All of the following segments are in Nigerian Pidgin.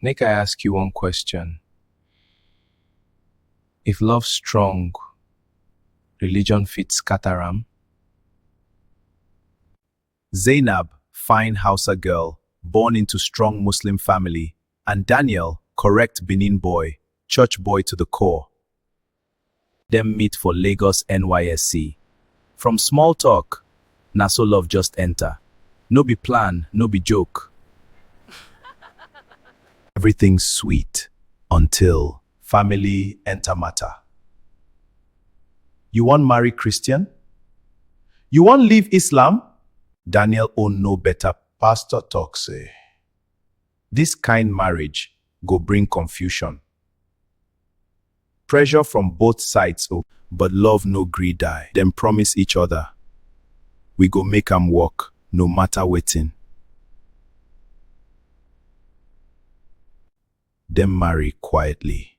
Make I ask you one question. If love strong, religion fit scatter am? Zainab, fine Hausa girl, born into strong Muslim family, and Daniel, correct Benin boy, church boy to the core. Dem meet for Lagos NYSC. From small talk, na so love just enter. No be plan, no be joke. Everything sweet until family enter matter. You wan marry Christian? You wan leave Islam? Daniel own no better. Pastor talk say, This kind marriage go bring confusion, pressure from both sides o, but love no gree die. Dem promise each other, we go make am work no matter wetin. Dem marry quietly.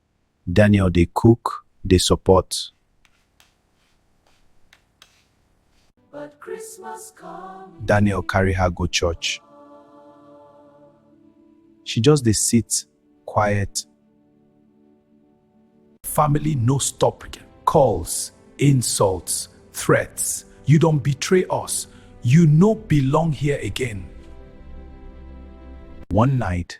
Daniel dey cook, dey support. Daniel carry her go church. She just dey sit quiet. Family no stop, calls, insults, threats, you don betray us, you no belong here again. One night,